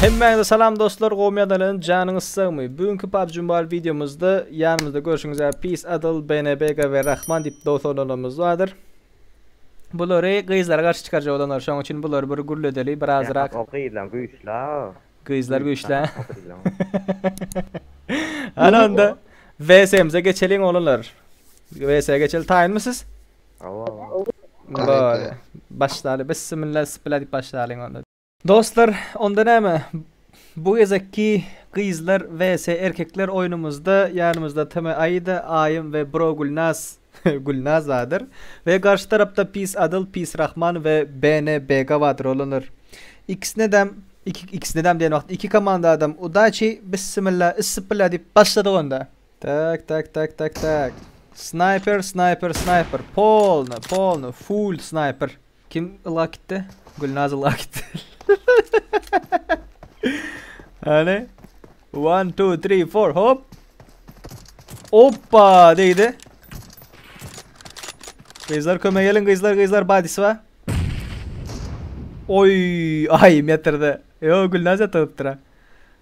Hemmäňize salam dostlar, gowy ýadalan, janyňyz sagmy? Bu günki PUBG Mobile wideomyzda ýanymyzda görşüňiz ýaly Peace Adel, BNBG we Rahman diýip dost olanlarymyz bardyr. Bulary gyzlara garşy çykarjak olanlar, şonuň üçin bulary bir gürledeli, bir azrak. O gyzlar güýçli. Gyzlar güýçli. Ana onda VS-mize geçeliň olanlar. VS-e geçeli taýynmy siz? Awa awa. Bor. Başlaly. Bissimilla sypyla diýip başlalyň onda. Dostlar, onda näme? Bu gezekki gyzlar vs. erkekler oýnumyzda ýanymyzda TM Aida, Aýym we bro Gülnaz, Gülnaz badyr, we garşy tarapda Pis Adyl, Pis Rahman we BN Bega badyr olanlar. Ikisinedem, iki, ikisinedem diýen wagt iki komandadam udaçi, bissimilla, yssypylla diýip başladyk onda. Tak tak tak tak tak. Snaýper snaýper snaýper polny polny full snaýper. Kim ylgap gitdi? Gülnaz ylgap gitdi. Hany? One, two, three, four, hop. Oppa deydi. Gyzlar köme gelin gyzlar gyzlar badisi var. Oy ay yatırdı. Yo Gülnaz yatırıptır ha.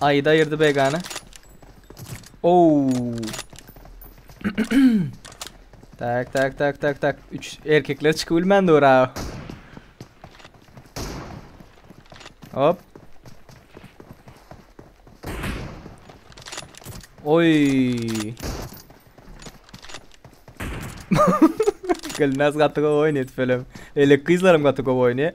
Aýda ýerdi begana. Ow. tak tak tak tak tak. Üç erkekler çykyp bilmändi ora. Hop. Oy. Gülnaz gaty gowy oýnaýar felem. Elek gyzlarym gaty gowy oýnaýar.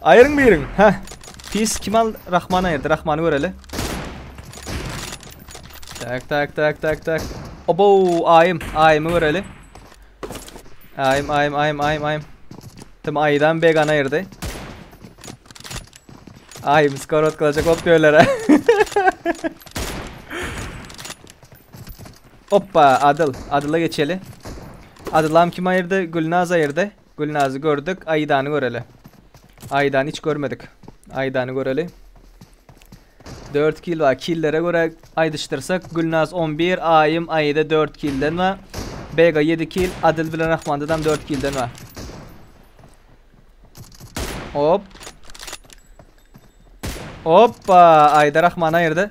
Aýryň biriň hä. Pis kim al Rahman aýyrdy Rahmany göreli. Tak tak tak tak tak. Obo aýym aýymy göreli. Aýym aýym aýym aýym aýym. Tim aýydan began aýyrdy. Aýym skor otkalacak bolup göýlere. Hoppa Adyl. Adyla geçeli. Adylam kim aýyrdy? Gülnaz aýyrdy. Gülnazy gördük, Aýdany göreli. Aýdany hiç görmedik. Aýdany göreli. Dört kil bar. Killere göre aýdyşdyrsak, Gülnaz on bir, Aýym, Aýda dört kilden bar. Bega ýedi kil, Adyl bilen Rahmandadam dört kilden bar. Hop. Hoppa! Aýda Rahmany aýyrdy.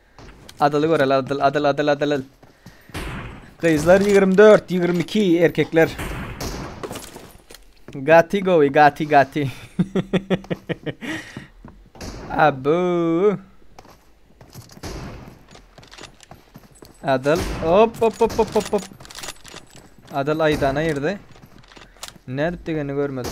Adyly göreli adyl adyl adyl adyl. Gyzlar 24, 22 erkekler. Gati govi gati gati. Abu. Adyl hop hop hop hop hop hop. Adyl aydana girdi. Ne edip degeni görmedim.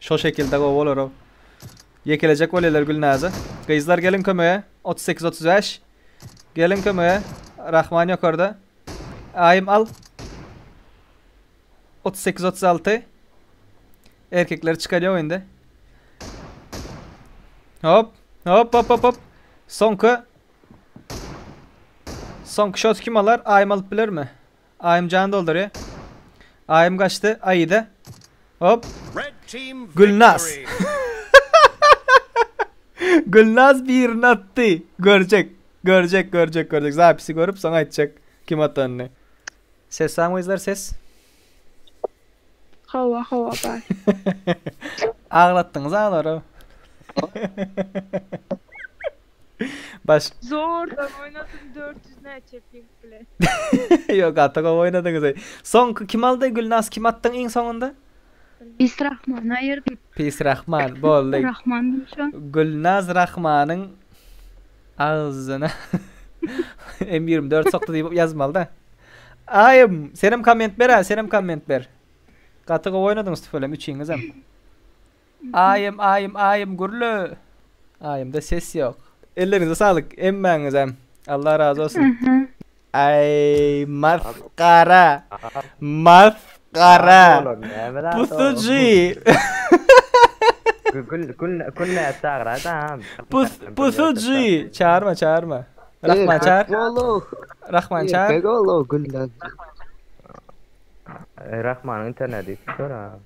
Şo şekilde gowy bolarov. Ýekelejek bolýalar Gülnaza. Gyzlar geliň kömege. Otuz sekiz otuz bäş. Geliň kömege. Rahman ýokarda. Aýym al. Otuz sekiz otuz alty. Erkekleri çykarýaw indi. Hop. Hop hop hop hop. Soňky. Soňky şoty kim alar? Aýym alyp bilermi? Aýym jan doldurýa. Aýym gaçdy. Aýyda. Hop. Gülnaz. Gülnaz birini atdy. Görjek. Görjek, görjek, görjek. Zapisi görüp soň aýtjak kim atanyny. Ses saň wezler ses. Hawa, hawa bar. Aglatdyňyz aglary. Baş. Zordan oýnadym 400 näçe ping bilen. Ýok, gaty gowy oýnadyňyz. Soňky kim aldy? Gülnaz kim atdyň iň soňunda? Pis Rahman aýyrdy. Pis Rahman boldy. Rahman diýmişo. Gülnaz Rahmanyň agzyna M ýigrimi dört sokdy diýip ýazmaly-da. Aýym, senem komment ber-ä, senem komment ber. Gaty gowy oýnadyňyz tüweleme üçiňizem. Aýym aýym aýym gürle. Aýymda ses ýok. Elleriňize saglyk hemmäňizem. Allah razy bolsun. Aý masgara. Masgara. Pusuji. Gül gül gül näme çagyra da. Pus pusuji. Çarma çarma. Rahman çar. Rahman çar. Rahmanyň interneti işlär ha.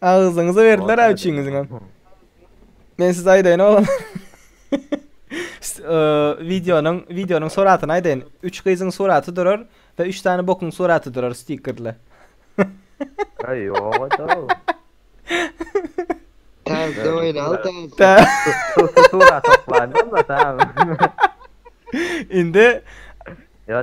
Agyzyňyza berdiler-ä üçiňiziňem. Men size aýdaýyn oglanlar. Wideonyň wideonyň suratyny aýdaýyn. Üç gyzyň suraty durar we üç sany bokuň suraty durar stikerle. Aý, ýoga-da. Täze oýnal, täze. Surat toplandy onda, tamam. Indi. Ýa,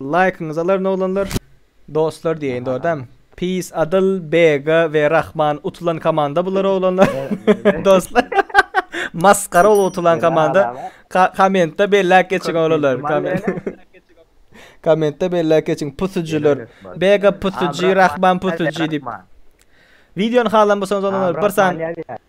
Laýkyňyzy alaryn oglanlar. Dostlar diýeýin dogry däm. Peace Adyl, Bega we Rahman utulan komanda bular oglanlar. Dostlar. Masgara bolup utulan komanda. Kommentde belläp geçiň oglanlar. Kommentde belläp geçiň pusujiler. Bega pusuji, Rahman pusuji diýip. Wideony halan bolsaňyz oglanlar bir sany